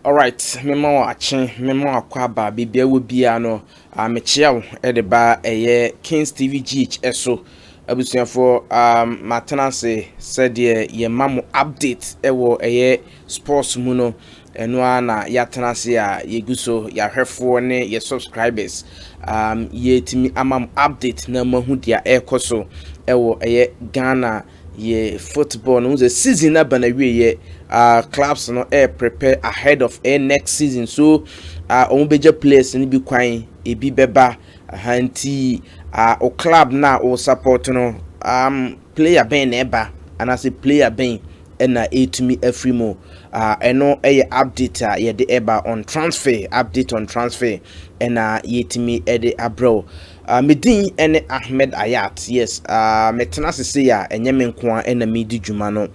Alright mema wo akye mema wo akɔ aba baabi a wɔ biara no uh, mekyea wo de ba ɛyɛ Kings TV GH so abusuafoɔ um, matena ase sɛdeɛ yɛma mo update ɛwɔ ɛyɛ sports mu no ɛno ara na yɛatena ase a yɛgu so yɛahwɛfoɔ ne yɛ subscribers um, yɛtumi ama mo update na moahu deɛ ɛrekɔ so ɛwɔ ɛyɛ Ghana yɛ football no, wohu sɛ season no aba n'awieeɛ, uh, clubs no ɛyɛ eh, prepare ahead of ɛyɛ eh, next season so uh, wɔn bɛgya players no bi kwan ebi bɛba aha nti uh, o club no a o support no um, player bɛn na ɛba anaasɛ player bɛn ɛna ɛtumi afiri mu uh, ɛno ɛyɛ update a yɛde ɛba on transfer update on transfer ɛna yɛtumi ɛde abrɛw Ah, me din ne Ahmed Ayat, yes, ah, metena ase sei a, ɛnyɛ me nko ara na medi dwuma no.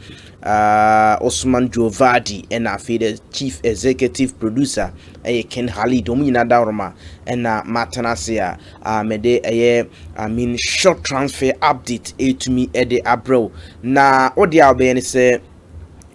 Ah, Osman Jovardi na afei the Chief Executive Producer ɛyɛ Ken Halid, wɔn nyinaa da wɔn a ɛna matena ase a, ah, mede ɛyɛ, I mean, short transfer update ɛtumi de abrɛ wo. Na wode a wobɛyɛ ne sɛ,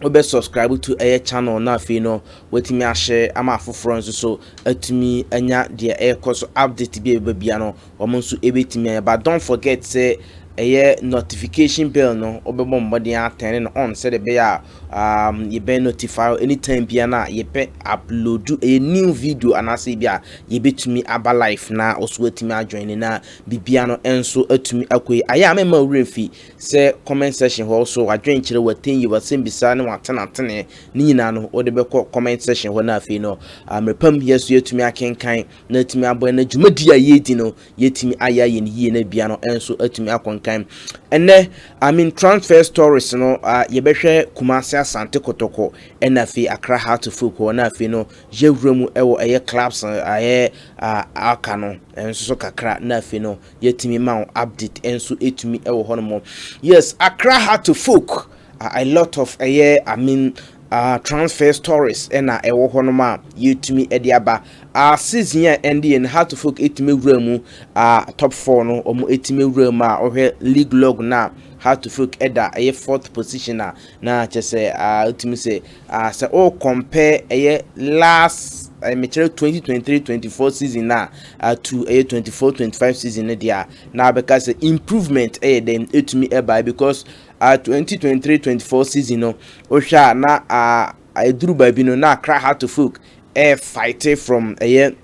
wobɛ subscribe to ɛyɛ channel na afei no watumi ahyɛ ama afoforɔ nso so atumi anya deɛ ɛrekɔ so update bi a ɛbɛba bia no wɔn nso ɛbɛtumi anya but don't forget sɛ ɛyɛ notification bell no wobɛbɔ mmɔden atɛne no on sɛdeɛ ɛbɛyɛ a um, yɛbɛn notify anytime bia no a yɛpɛ upload ɛyɛ new video anaasɛ bi a yɛbɛtumi aba life na ɔso atumi adwene na bibia no nso atumi akɔ yi ayɛ a mɛma wura mfi sɛ comment section hɔ so w'adwenkyerɛ w'atinyi w'asɛmbisa ne w'atenatenee ne nyinaa no wode bɛkɔ comment section hɔ na afei no mmerɛpam yɛ so yɛatumi akenkan na atumi abɔ na dwumadi a yɛredi no yɛatumi ayɛ ayɛ no yie na bia no nso atumi akonkan ɛnɛ I mean transfer stories no yɛbɛhwɛ Kumasi Asante Kotoko ɛna afei Accra Heart of Oak hɔ na afei no yɛwura mu ɛwɔ ɛyɛ clubs ɛyɛ aka no nso so kakra na afei no Yɛtumi ma wo update nso ɛtumi wɔ hɔ nom. Yes, Accra Heart to Folk, uh, a lot of ɛyɛ, I mean, uh, transfer stories ɛna ɛwɔ hɔ nom a yɛtumi ɛde aba. Uh, season a ɛnde yɛn Heart to Folk ɛtumi wura mu, uh, top 4 no, wɔn ɛtumi wura mu a ɔhwɛ league log na Heart to Folk ɛda ɛyɛ fourth position a na kyɛ sɛ uh, ɛtumi sɛ Ah sɛ o compare ɛyɛ last ɛyɛ mekyerɛ twenty twenty three twenty four season na ah to ɛyɛ twenty four twenty five season no deɛ a na abɛka sɛ improvement ɛyɛ dɛm etumi ɛbae because ah twenty twenty three twenty four season no wohwɛ a na ah ɛduru baabi no na akra heart to folk ɛyɛ fight from ɛyɛ.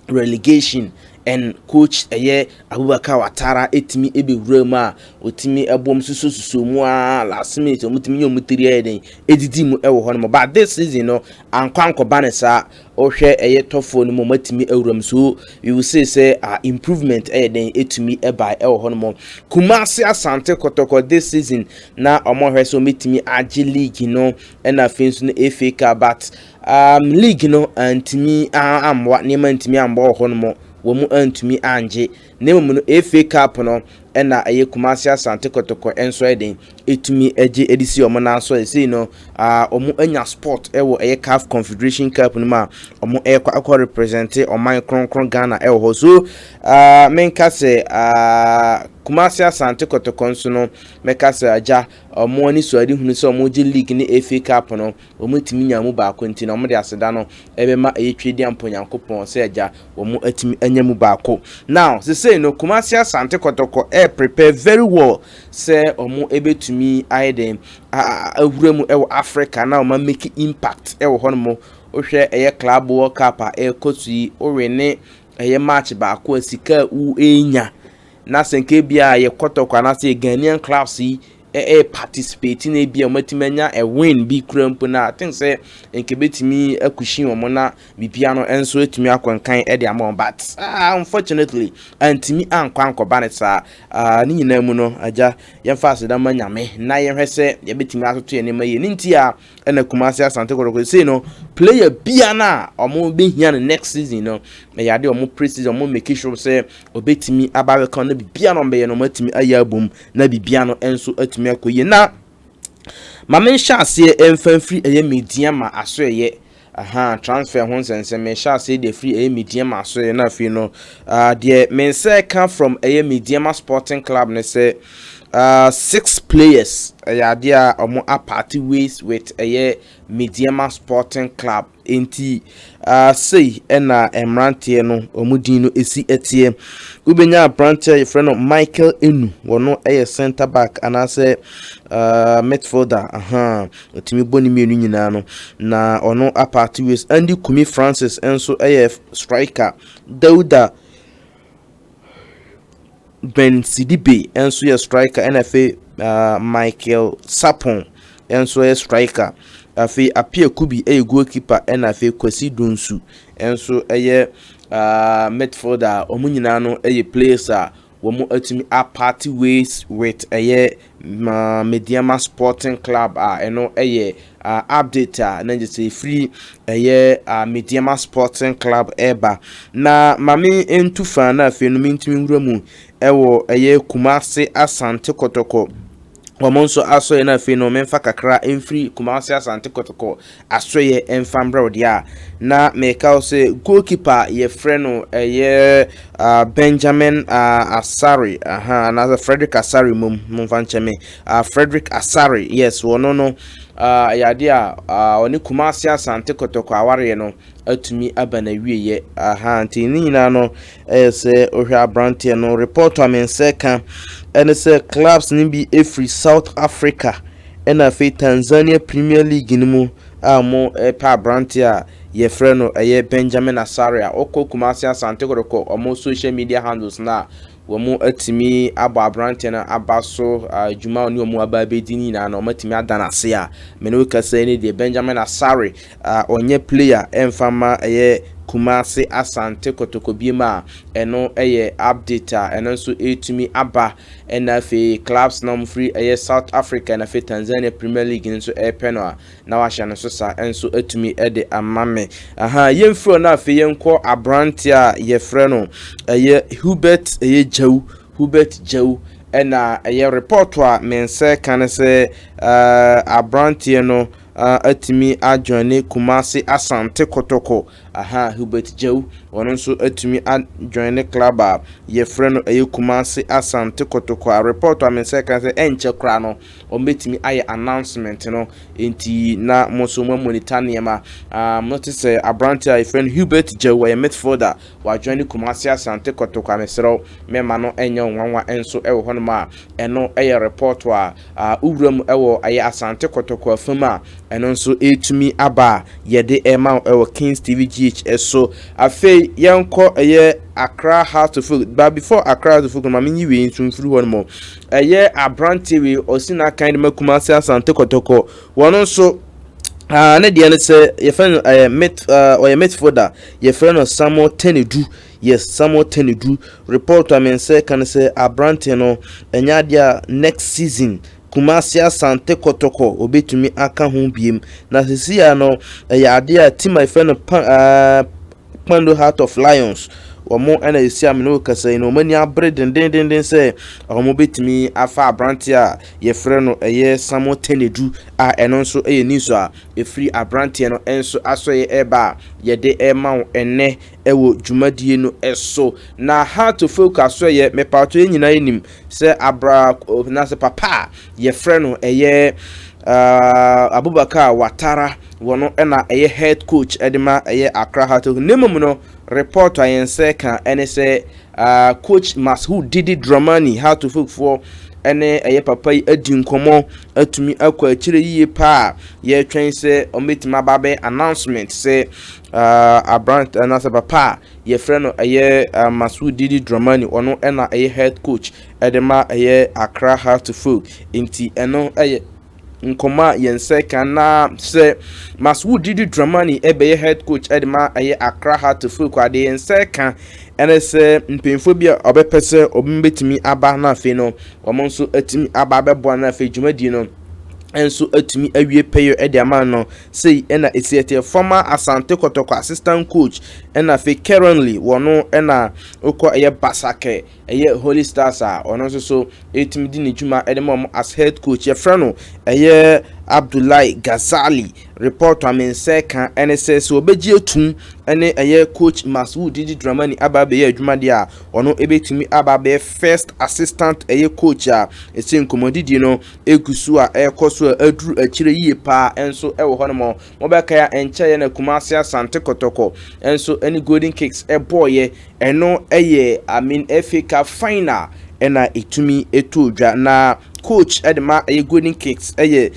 relegation and coach ɛyɛ Abubakar Watara ɛtumi ɛbɛwura mu a ɔtumi ɛbɔ mu susɔ susɔ mu a last minute ɔmo tumi nyɛ ɔmo tiri ɛyɛ den ɛdidi mu ɛwɔ hɔ nom but this season no ankɔ ankɔba ne saa ɔhwɛ ɛyɛ tɔfoɔ no mu ɔmo atumi ɛwura mu so we will say sɛ uh, improvement ɛyɛ den ɛtumi ɛba ɛwɔ hɔ nom Kumasi Asante Kɔtɔkɔ this season na ɔmo hwɛ sɛ ɔmo ɛtumi agye league no ɛna afei nso no FA Cup but Um, league no antumi ammoa, nneɛma antumi ammoa wɔ hɔnom, wɔn mu antumi angye. Na mmom no, FA Cup no na ɛyɛ Kumasi Asante Kɔtɔkɔ nso yɛ den, ɛtumi gye ɛde si wɔn nan so. Ɛsei no, wɔn ah, anya sport wɔ ɛyɛ CAF Confederation Cup no mu a wɔn ɛkɔ akɔ represente ɔman kronkron Ghana wɔ hɔ. So ah, menka sɛ ah, Kumasi Asante Kɔtɔkɔ nso no, mɛka sɛ agya wɔn ani so ade hunu sɛ wɔn gye league ne FA Cup no, wɔantumi nya mu baako nti na wɔde aseda no bɛma ɛyɛ Twedeɛ Mpo Nyankopɔn sɛ Agya, wɔatumi anya mu baako. Now, sesei no Kumasi Asante Kɔtɔkɔ ɛɛ prepare very well sɛ wɔbɛtumi ayɛ dɛn awura mu wɔ Africa na wɔn a make impact wɔ hɔ nom. Wohwɛ ɛyɛ Club World Cup a ɛrekɔ so yi, wo wene ɛyɛ match baako a sika a wo ɛnya na sɛ nka ebia yɛ Kɔtɔkɔ anaasɛ yɛ Ghanaian clubs yi eh participate na ebi a wɔn atumi anya a win bi kura mpo na I think sɛ nka ebetumi akushi wɔn na bibia no nso atumi akɔ nkan de ama wɔn but ah, unfortunately antumi ankɔ ankɔba ne saa ah, ne nyinaa mu no agya yɛmfa aseda ma nyame na yɛhwɛ sɛ yɛbɛtumi atoto yɛn nneɛma yie ne nti a ɛna Kumasi Asante Kɔtɔkɔ sei no player bia no a wɔn bɛhia no next season no ɛyɛ adeɛ wɔn pre season wɔn make sure sɛ ɔbɛtumi aba abɛka na bibia no ɔbɛyɛ no wɔn atumi ayɛ abom na bibia no nso atumi akɔ yie na maame nhyɛ aseɛ mfa mfiri ɛyɛ media ma aso ɛyɛ Ahaa transfer ho nsɛnsɛm mehyɛ aseɛ deɛ firi ɛyɛ Medeɛma so yɛ na afei no ah deɛ me nsa ɛka from ɛyɛ Medeɛma sporting club ne sɛ ah six players ɛyɛ adeɛ a ɔmo aparte ways with ɛyɛ Medeɛma sporting club enti ah sei ɛna mmeranteɛ no ɔmo din no ɛsi ɛteɛ wobɛnya aberanteɛ a yɛfrɛ no Michael Enu wɔno ɛyɛ centre back anaasɛ ah midfielder ahaa Ɔtumi bɔ ne mmienu nyinaa no na ɔno apart ways. Andy Kumi Francis nso yɛ striker. Dauda Ben Sidibe nso yɛ striker ɛna afei uh, Michael Sapon nso yɛ striker. Afei Apia Kubi yɛ goalkeeper ɛna afei Kwasi Donsu nso yɛ uh, midfielder. Wɔn nyinaa no yɛ players a Wɔatumi aparte ways with ɛyɛ Medeama Sporting Club a ɛno yɛ update a na gye sɛ ɛfiri ɛyɛ Medeama Sporting Club ɛba. Na mame ntu fa na afei no mentumi nwura mu ɛwɔ ɛyɛ Kumase Asante Kɔtɔkɔ wɔn nso asoɛeɛ no afei no memfa kakra mfiri Kumasi Asante Kɔtɔkɔ asoɛeɛ mfa mbrɛ wo deɛ a na meka wo sɛ goalkeeper a yɛfrɛ no ɛyɛ uh, Benjamin uh, Asare aha uh, anaasɛ Frederick Asare mmom momfa nkyɛ me uh, Frederick Asare yes wɔno no uh, ɛyɛ adeɛ a uh, ɔne Kumasi Asante Kɔtɔkɔ awareɛ no atumi aba na wieɛ aha nti ne nyinaa no Ɛyɛ sɛ wohwɛ aberanteɛ no report a me nsa ɛka ɛne sɛ clubs no bi ɛfiri South Africa ɛna afei Tanzania Premier League no mu a wɔpɛ aberanteɛ a yɛfrɛ no ɛyɛ Benjamin Asaria wokɔ Kumasi Asante Kotoko wɔn social media handles no a wɔn atumi abɔ aberanteɛ no aba so adwuma a wɔn aba abɛdi no nyinaa no wɔn atumi ada no ase a me ne wo kasa yi ne deɛ Benjamin Asare a ɔnyɛ player ɛmfa mma ɛyɛ Kumasi Asante Kotoko biem a ɛno ɛyɛ update a ɛno nso ɛretumi aba ɛna afei clubs na wɔn firi ɛyɛ South Africa na afei Tanzania Premier League no nso ɛrepɛ no a na wahyɛ no so saa ɛnso atumi ɛde ama me aha yɛmfiri hɔ na afei yɛnkɔ aberanteɛ a yɛfrɛ no ɛyɛ Hubert ɛyɛ Gyawu Hubert Gyawu ɛna ɛyɛ report a me nsa ɛka no sɛ ɛɛ aberanteɛ no atumi a joine Kumasi Asante Kotoko ahaa Hubert Jau ɔno nso atumi a joine club a yɛfrɛ no ɛyɛ Kumasi Asante Kotoko a report a me nsa kan sɛ ɛnkyɛ koraa no wɔn bɛtumi ayɛ announcement no nti na mo nso mo monitor nneɛma ah mo te sɛ aberante a yɛfrɛ no Hubert Jau ɔyɛ midfielder wa joine Kumasi Asante Kotoko a mesrɛ mɛma no ɛnyɛ nwanwa nso ɛwɔ hɔnom a ɛno ɛyɛ report a A Wo wura mu wɔ ɛyɛ Asante Kɔtɔkɔ afa mu a, ɛno nso ɛretumi aba a yɛde rema wo ɛwɔ Kings TV GH so. Afei yɛnkɔ ɛyɛ Accra House of Folk. But before Accra House of Folk no, ma menyi wei nso mfiri hɔ no mu. Ɛyɛ aberanteɛ wei, ɔsi n'akan de ma Kumasi Asante Kɔtɔkɔ. Wɔn nso Ah, ne deɛ no sɛ yɛfrɛ no ɛyɛ met ɔyɛ metfoɔ da yɛfrɛ no Samuel Tenedu Yes Samuel Tenedru report a me nsa ɛka ne sɛ abrante no ɛnyɛ adeɛ a next season Kumasi Asante Kɔtɔkɔ ɔbɛtumi aka ho biem na sesei a no ɛyɛ adeɛ a team a yɛfrɛ no pa aah Kpando Heart of Lions wɔn ɛna sesei a me ne wo kasa yi no wɔn ani abere dendendenden sɛ wɔn bɛtumi afa abrante a yɛfrɛ no ɛyɛ Samuel Tenedru a ɛno nso ɛyɛ news a ɛfiri abranteɛ no nso asɔeɛ ɛreba a yɛde ɛrema wo ɛnnɛ wɔ dwumadie no so. Na Hart Tofel ka so yɛ, mepatɔ yɛn nyinaa nim sɛ abra anaasɛ papa a yɛfrɛ no ɛyɛ Abubakar Watara wɔ no na ɛyɛ head coach de ma ɛyɛ Accra Heart Tofel. Ne mmom no report a yɛn sɛ ka ɛne sɛ coach Mashoud Didi Dramani Hart Tofel foɔ ɛne ɛyɛ papa yi adi nkɔmɔ atumi akɔ akyire yie paa yɛtwɛn sɛ ɔmɛtumi aba bɛ announcement sɛ Uh, aberant anaasɛ papa a yɛfrɛ no ɛyɛ uh, Masoud Didi Dramani ɔno ɛna ɛyɛ head coach ɛde ma ɛyɛ Accra Heartful nti ɛno ɛyɛ nkɔmɔ a yɛn sɛ kan na sɛ Masoud Didi Dramani ɛbɛyɛ head coach ɛde ma ɛyɛ Accra Heartful kɔ adeɛ yɛn sɛ kan ɛne sɛ mpanyinfoɔ bi a ɔbɛpɛ sɛ ɔbɛn bɛtumi aba na afei no wɔn nso atumi aba abɛboa na afei dwumadie no nso atumi awie pɛyɛ ɛde ama no Sei na ɛsiɛ teɛ former Asante Kɔtɔkɔ assistant coach ɛna afei currently wɔ no ɛna wokɔ ɛyɛ Basakɛ ɛyɛ Holy Stars a ɔno nso so ɛtumi di ne dwuma ɛde ma ɔmo as head coach yɛfrɛ no ɛyɛ Abdullahi Ghazali report a me nsa ɛka ɛne sɛ sɛ ɔbɛgye atum ɛne ɛyɛ coach Maswood Didi Dramani aba abɛyɛ adwuma deɛ a ɔno ɛbɛtumi aba abɛyɛ first assistant ɛyɛ coach a ɛsɛ nkɔmmɔdidie no egu so a ɛrekɔ so a aduru akyire yie paa nso wɔ hɔnom. Mobɛkae a ɛnkyɛeɛ na Kumasi Asante Kɔtɔkɔ nso ne Golden Kicks bɔeɛ. Ɛno yɛ Amin FA Cup final na ɛtumi too dwa. Na coach de ma ɛyɛ Golden Kicks yɛ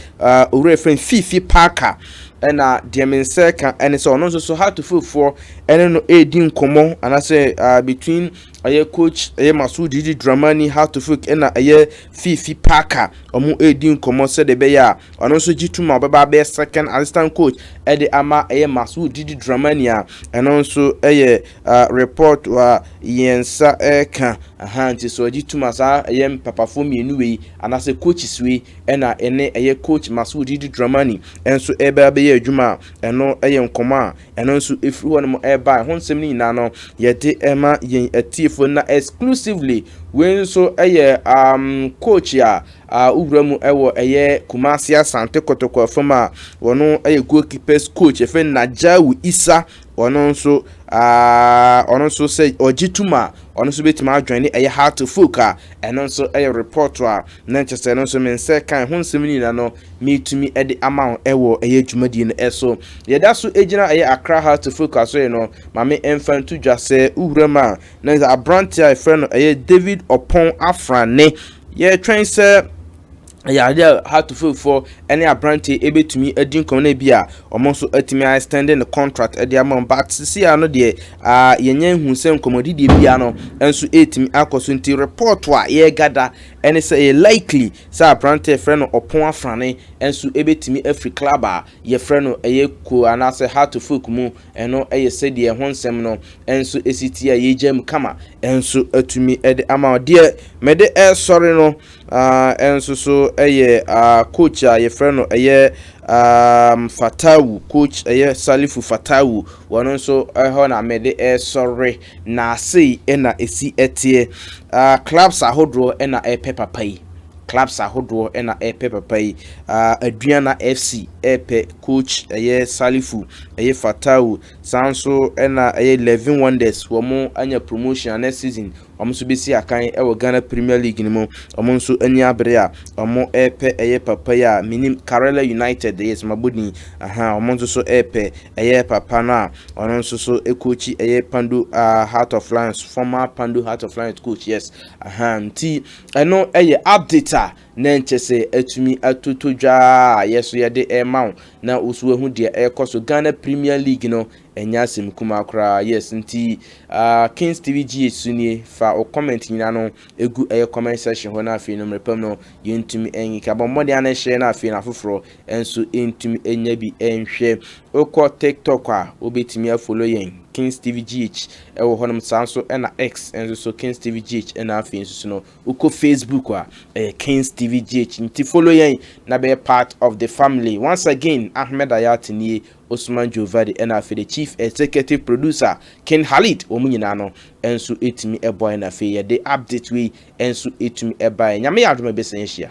owura yɛfrɛ no Fifi Parker. Ɛna deɛ me nsa ka ne sɛ ɔno nso so Hartofulfoɔ ne no redi nkɔmmɔ anaasɛ between ɛyɛ coach ɛyɛ Masoudi Dramani Hartofulk ɛna ɛyɛ Fifi Parker, wɔn redi nkɔmmɔ sɛdeɛ ɛbɛyɛ a ɔno nso gye tum a ɔbɛba abɛyɛ second assistant coach de ama ɛyɛ Masud Didi Dramani a ɛno nso yɛ report a yɛn nsa reka aha nti sɛ ɔgye tum a saa ɛyɛ mpapafoɔ mmienu wei anaasɛ coaches wei ɛna ɛne ɛyɛ coach Masud Didi Dramani nso ɛbɛ abɛyɛ adwuma a ɛno yɛ nkɔmmɔ a Ɛno nso ɛfiri hɔ nom ɛbae. Ho nsɛm no nyinaa no yɛde ɛma yɛn atiefoɔ na exclusively wei nso ɛyɛ um, coach a uh, wowura mu ɛwɔ ɛyɛ Kumasi Asante Kotoko afam a wɔno ɛyɛ goalkeepers coach ɛfɛ Najawu Isa ɔno nso uh, ɔno nso sɛ ɔgye tum a ɔno nso bɛtumi adwene ne ɛyɛ how to folk a ɛno nso ɛyɛ report a na nkyɛ sɛ ɛno nso mensɛ kan ho nsɛm no nyinaa no metumi de ama wo wɔ ɛyɛ dwumadie no so. Yɛda so gyina ɛyɛ Accra Heart to Focus so no, ma me mfa nto dwa sɛ wowura mu a, na sɛ aberanteɛ a yɛfrɛ no ɛyɛ David Ɔpɔn Afrane, yɛtwɛn sɛ ɛyɛ adeɛ a Heart to Focus ne aberanteɛ ɛbɛtumi adi nkɔm no bi a wɔn nso atumi a extending the contract de ama wɔn but sisi a no deɛ uh, yɛnyɛ nhu sɛ nkɔmmɔdidie biara no nso ɛtumi akɔ so nti report a yɛregada ɛne sɛ ɛyɛ likely Sɛ aberanteɛ frɛ no ɔpon afrane nso bɛtumi afiri club a yɛfrɛ no ɛyɛ kuo anaasɛ Hato folk mu, ɛno yɛ sɛdeɛ ɛho nsɛm no nso si teɛ a yɛgyaa mu kama, nso atumi de ama wo. Deɛ mede resɔre no ara nso so yɛ coach a yɛfrɛ no ɛyɛ Fatawu, coach ɛyɛ Salifu Fatawu, wɔn nso hɔ na mede resɔre. Na sei na ɛsi teɛ. Ah, clubs ahodoɔ na ɛrepɛ papa yi. Clubs ahodoɔ na ɛrepɛ papa yi. Ah, Aduana FC ɛrepɛ coach ɛyɛ Salifu, ɛyɛ Fatau. Saa nso na ɛyɛ Levin Wonders, wɔn anya promotion a next season wɔn nso bɛsi akan wɔ Ghana Premier League no mu. Wɔn nso ani abere a wɔn ɛrepɛ ɛyɛ papa yi a menim Karela United, yes mabɔ din. Ahaa, wɔn nso so ɛrepɛ ɛyɛ papa no a Ɔno nso so coach ɛyɛ Pandu uh, Heart of Lions former Pandu Heart of Lions coach yes aha nti ɛno ɛyɛ update a na nkyɛ sɛ atumi atoto dwa a yɛ so yɛde ɛma wo na wo so ahu deɛ ɛrekɔ so Ghana Premier League no ɛnyɛ asɛm kumaa koraa yes nti uh, Kings TV GH so nie fa wo comment nyina no ɛgu ɛyɛ comment section hɔ na afei no mmerɛpam no yɛntumi ɛnyika bɔ mmɔden ana ɛhyɛ no afei no afoforɔ nso ntumi nya bi nhwɛ. Wokɔ TikTok a, wobɛtumi afolo yɛn, King Stevie GH wɔ hɔnom, saa nso na X nso so, King Stevie GH na afei nso so no, wokɔ Facebook a, ɛyɛ King Stevie GH. Nti folo yɛn na bɛyɛ part of the family. Once again, Ahmed Ayat nie, Ousman Jovadi ɛna afei de Chief Executive Producer, King Halid, wɔn nyinaa no nso tumi boaeɛ na afei yɛde update wei nso tumi baeɛ. Nyame yɛ adom a ɛbɛsan ahyia.